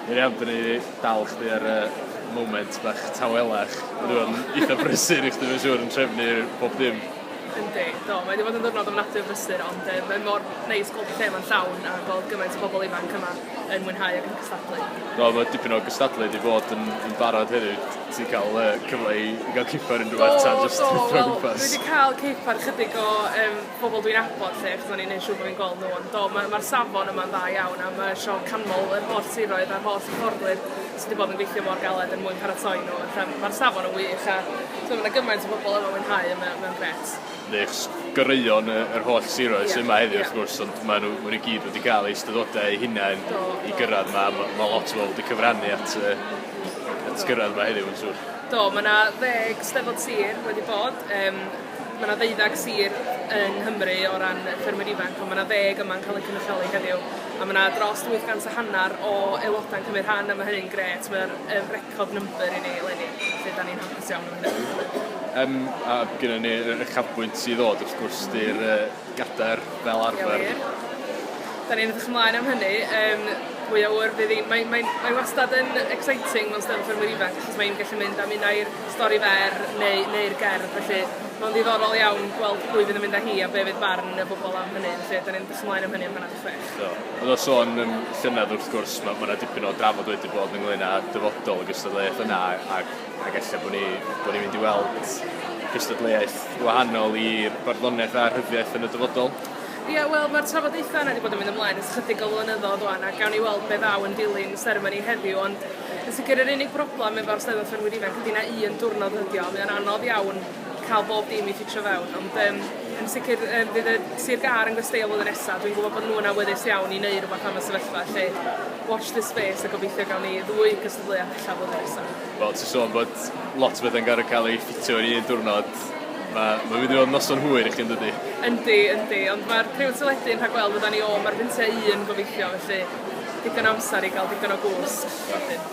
Dwi am dynnu dal chdi ar y moment bach tawelach. Mae nhw yn eitha brysur i chdi mae'n siŵr yn trefnu pob dim. Yndi, do, mae 'di bod yn ddiwrnod ofnadwy o brysur ond yy mae mor neis gweld y lle 'ma'n llawn a gweld gymaint o bobl ifanc yma yn mwynhau ac yn cystadlu. Do, mae dipyn o gystadlu 'di bod yn yn barod hefyd. Ti'n cael yy cyfle i i gael cipar unrhyw fath ta jyst... Do, do, wel dwi 'di ca'l cipar chydig o yym pobl dwi'n nabod 'lly achos o'n i'n neud siŵr bo' fi'n gweld n'w ond do ma' ma'r safon yma'n dda iawn a ma' isio canmol yr holl siroedd a'r holl hyfforddwyr sy 'di bod yn gweithio mor galed er mwyn paratoi n'w fatha ma'r safon yn wych a t'mo' ma' 'na gymaint o bobol yma mwynhau a mae o mae o'n grêt. Neis. Goreuon y yr holl siroedd sy yma heddiw wrth gwrs ond ma' n'w ma' n'w i gyd wedi ca'l eu ystadodau eu hunain i gyrradd 'ma a ma' ma' lot o bobol wedi cyfrannu at yy at gyrradd 'ma heddiw yn siŵr. Do ma' 'na ddeg Steddfod sir wedi bod yym Mae 'na ddeuddeg sir yng Nghymru o ran ffermwyr ifanc, ond mae 'na ddeg yma'n cael eu cynrychioli heddiw, a mae 'na dros 800 a hanner o aelodau'n cymryd rhan, a mae hynny'n grêt, mae o'n yy record number i ni eleni, felly 'dan ni'n hapus iawn o hynny. Yym a gynna ni y uchafbwynt i ddod wrth gwrs 'di'r yy Gader fel arfer. Ie wir. 'Dan ni'n edrych ymlaen am hynny yym mwy o ŵyr fydd 'i'n mae mae mae wastad yn exciting mewn Steddfod ffermwyr ifanc achos mae 'i'n gallu mynd am un ai'r stori fer neu neu'r gerdd felly ma'n ddiddorol iawn gweld pwy fydd yn mynd â hi a be' fydd barn y bobol am hynny felly 'dan ni'n edrych ymlaen am hynny am hannar 'di chwech. Do. Ond o sôn yn llynedd wrth gwrs ma' ma' 'na dipyn o drafod wedi bod ynglŷn â dyfodol y gystadleuaeth yna a ac ella bod ni bod ni'n mynd i weld cystadleuaeth wahanol i barddoniaeth a rhyddiaith yn y dyfodol. Ie, wel, mae'r trafodaethau yna wedi bod yn mynd ymlaen ers chydig o flynyddoedd wan, a gawn ni weld beth ddaw yn dilyn y seremoni heddiw, ond yn sicr yr unig broblem efo'r Steddfod Ffermwyr Ifanc ydy na un diwrnod ydi o, mae o'n anodd iawn cael bob dim i ffitio fewn, ond um, yn sicr um, bydd y Sir Gar yn gwestiau flwyddyn nesaf, dwi'n gwybod bod nhw'n awyddus iawn i wneud rhywbeth am y sefyllfa, lle watch this space a gobeithio gawn ni ddwy cystadleuaeth Ble a ph'ella fod o nesa? Wel ti sôn bod lot o bethe'n gor'o' ca'l eu ffitio i un diwrnod ma' ma'n mynd i fod yn noson hwyr i chdi yndydi? Yndi yndi ond ma'r period teledu'n rhagweld ydan ni o ma'r fynte un gobeithio felly digon o amsar i ga'l digon o gwsg wedyn.